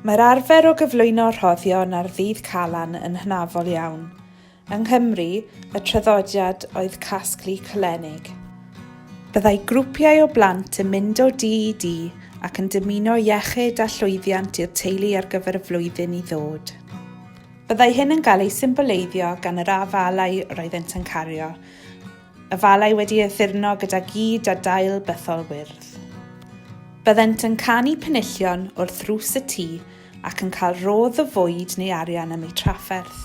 Mae'r arfer o gyflwyno rhoddion ar ddydd Calan yn hynafol iawn. Yng Nghymru, y traddodiad oedd casglu cylenig. Byddai grwpiau o blant yn mynd o dŷ i dŷ ac yn dymuno iechyd a llwyddiant i'r teulu ar gyfer y flwyddyn i ddod. Byddai hyn yn cael ei symboleiddio gan yr afalau yr oeddent yn cario, afalau wedi addurno gyda gyd a dail bythol wyrdd. Byddent yn canu penillion wrth rws y tŷ ac yn cael rodd o fwyd neu arian am eu trafferth.